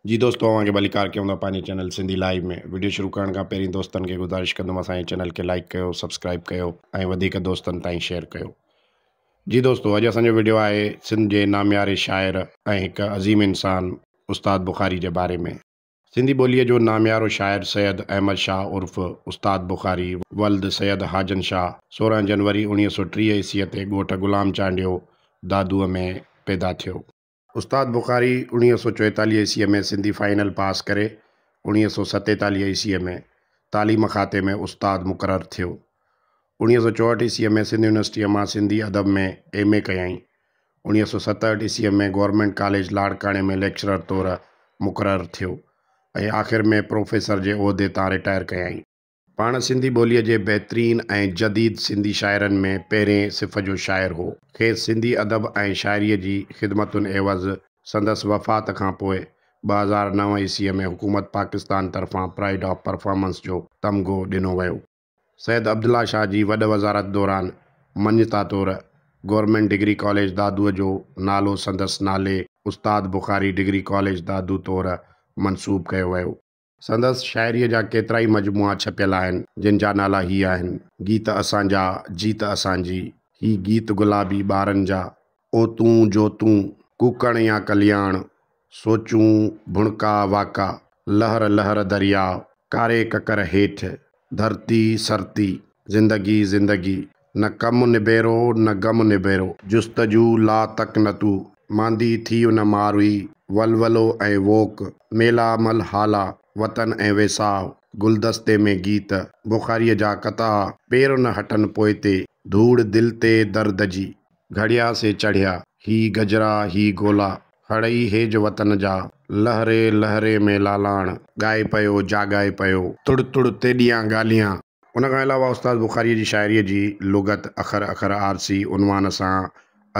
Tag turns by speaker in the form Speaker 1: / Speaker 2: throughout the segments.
Speaker 1: جي دوستو اوهان کي ڀليڪار ڪيون ٿا پنهنجي چينل سنڌي لائيو ۾ وڊيو شروع ڪرڻ کان پهرين دوستن کي گذارش ڪندم اسان جي چينل کي لائيڪ ڪيو سبسڪرائيب ڪيو ۽ وڌيڪ دوستن تائين شيئر ڪيو جي دوستو اڄ اسان جو وڊيو آهي سنڌ جي نامياري شاعر ۽ هڪ عظيم انسان استاد بخاري جي باري ۾ سنڌي ٻوليء جو ناميارو شاعر سيد احمد شاهه عرف استاد بخاري ولد سيد حاجن شاهه سورهن جنوري اوڻيهه سؤ ٽيهه عيسويء تي ڳوٺ غلام چانڊيو دادوء ۾ پيدا ٿيو. استاد بخاري اوڻيهه سؤ چويتاليهه عيسويء ۾ سنڌي فائنل پاس ڪري اوڻيهه سؤ ستيتاليهه عيسويء ۾ تعليم کاتي ۾ استاد مقرر ٿيو. اوڻيهه سؤ چوهٺ عيسويء ۾ سنڌ يونيورسٽيء مان سنڌي ادب ۾ ايم. اي ڪيائين. اوڻيهه سؤ ستهٺ عيسويء ۾ گورنمينٽ ڪاليج لاڙڪاڻي ۾ ليڪچرر طور مقرر ٿيو ۽ آخر ۾ پروفيسر جي عهدي تان رٽائر ڪيائين. پاڻ سنڌي ٻوليء جي بهترين ۽ جديد سنڌي شاعرن ۾ پهرين صف جو شاعر هو. کيس سنڌي ادب ۽ شاعريء جي خدمتن عيوض سندس وفات کان پوء ٻه هزار نو عيسويء ۾ حڪومت پاڪستان طرفان پرائيڊ آف پرفارمنس جو تمغو ڏنو ويو. سيد عبدالله شاهه جي وڏ وزارت دوران مڃتا طور گورنمينٽ ڊگري ڪاليج دادوء جو نالو سندس نالي استاد بخاري ڊگري ڪاليج دادو طور منسوب ڪيو ويو. سندس شاعريء جا ڪيترائي مجموعا ڇپيل آهن، جن جا نالا هي آهن، گيت اسان جا، جيت اسان جي، هي گيت گلابي ٻارن جا، او تون جو تون، ڪوڪڻ يا ڪلياڻ، سوچون، ڀڻڪا واڪا، لهر لهر درياء، ڪاري ڪڪر هيٺ، ڌرتي سرتي، زندگي زندگي، نه ڪم نبيرو نه غم نبيرو. جستجو لا تقنطو، ماندي ٿي ان مار هئي. ولولو ۽ ووڪ، ميلا مل هالا، وطن ۽ ويساهه، گلدستي ۾ گيت، بخاريء جا قطعا، پير نه هٽن پوئتي، ڌوڙ دل تي درد جي. گهڙيا سي چڙهيا، هي گجرا هي گولا، هڙئي هيج وطن جا، لهري لهري ۾ لالاڻ، ڳائي پيو جاڳائي پيو. تڙ تڙ تيڏيان ڳالهيان، ان کان علاوه استاد بخاريء جي شاعريء جي لغت اکر اکر آرسي عنوان سان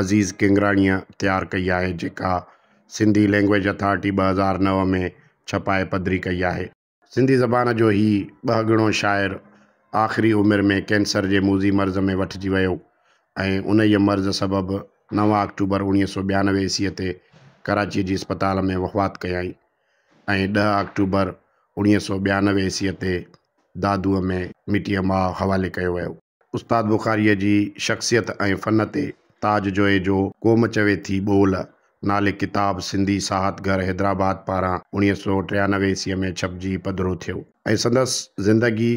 Speaker 1: عزيز ڪينگراڻيء تيار ڪئي آهي، جيڪا سنڌي لئنگويج اٿارٽي ٻه هزار نو ۾ ڇپائي پڌري ڪئي آهي. سنڌي زبان جو هي ٻهگڻو شاعر آخري عمر ۾ ڪينسر جي موذي مرض ۾ وٺجي ويو ۽ انهيء مرض سبب نو آڪٽوبر اوڻيهه سؤ ٻيانوي عيسيء تي ڪراچيء جي اسپتال ۾ وفات ڪيائين. ۽ ڏهه آڪٽوبر اوڻيهه سؤ ٻيانوي عيسويء تي دادوء ۾ مٽيء ماء حوالي ڪيو ويو. استاد بخاريء جي شخصيت ۽ فن تي تاج جويي جو قوم چوي ٿي ٻول نالي ڪتاب سنڌي ساهت گهر حيدرآباد پاران اوڻيهه سؤ ٽيانوي عيسويء ۾ ڇپجي پڌرو ٿيو. ۽ سندس زندگي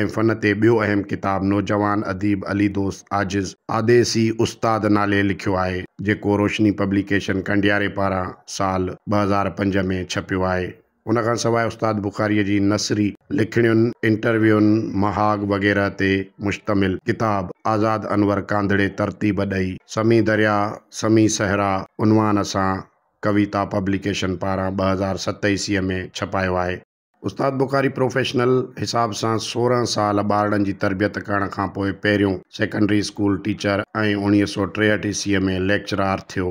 Speaker 1: ۽ فن تي ٻيو اهم ڪتاب نوجوان اديب علي دوست عاجز آديسي استاد نالي لکيو آهي، جيڪو روشني پبليڪيشن ڪنڊياري پاران سال ٻه هزار پنج ۾ ڇپيو آهي. ان کان سواء استاد بخاريء جي نثري لکڻين، انٽرويون، مهاڳ وغيره تي مشتمل ڪتاب آزاد انور ڪانڌڙي ترتيب ڏئي سمي درياء سمي صحرا عنوان سان ڪويتا پبليڪيشن پاران ٻه هزار ست عيسويء ۾ ڇپايو آهي. استاد بخاري پروفيشنل حساب سان سورهن سال ٻارڙن جي تربيت ڪرڻ کانپوء پهريون سيڪنڊري اسڪول ٽيچر ۽ اوڻيهه سؤ ٽيهٺ عيسويء ۾ ليڪچرار ٿيو.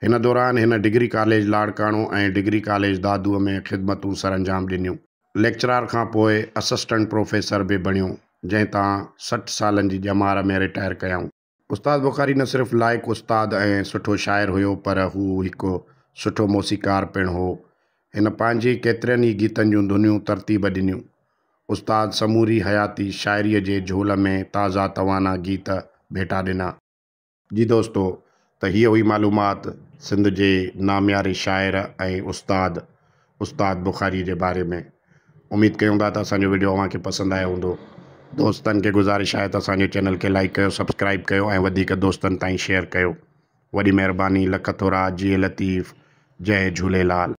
Speaker 1: هن دوران هن degree college Larkana ۽ degree college دادوء ۾ خدمتون سرانجام ڏنيون. ليڪچرار کانپوء اسسٽنٽ پروفيسر به بڻيو، جنهن تان سٺ سالن جي ڄمار ۾ رٽائر ڪيائون. استاد بخاري نه صرف لائق استاد ۽ سٺو شاعر هيو پر هو هڪ سٺو موسيقار پڻ هو. هن پنهنجي ڪيترن ئي گيتن جون ڌنيون ترتيب ڏنيون. استاد سموري حياتي شاعريء جي جهول ۾ تازا توانا گيت ڀيٽا ڏنا. جي دوستو ته هيء هئي معلومات سنڌ جي نامياري شاعر ۽ استاد استاد بخاري جي باري ۾. اميد ڪيون ٿا ته اسان جو وڊيو اوهان کي پسند آيو هوندو دوستن کي گذارش آهي ته اسان جو چينل کي لائيڪ ڪيو سبسڪرائيب ڪيو ۽ وڌيڪ دوستن تائين شيئر ڪيو وڏي مهرباني لک ٿورا جيئي لطيف جئي جهوليلال.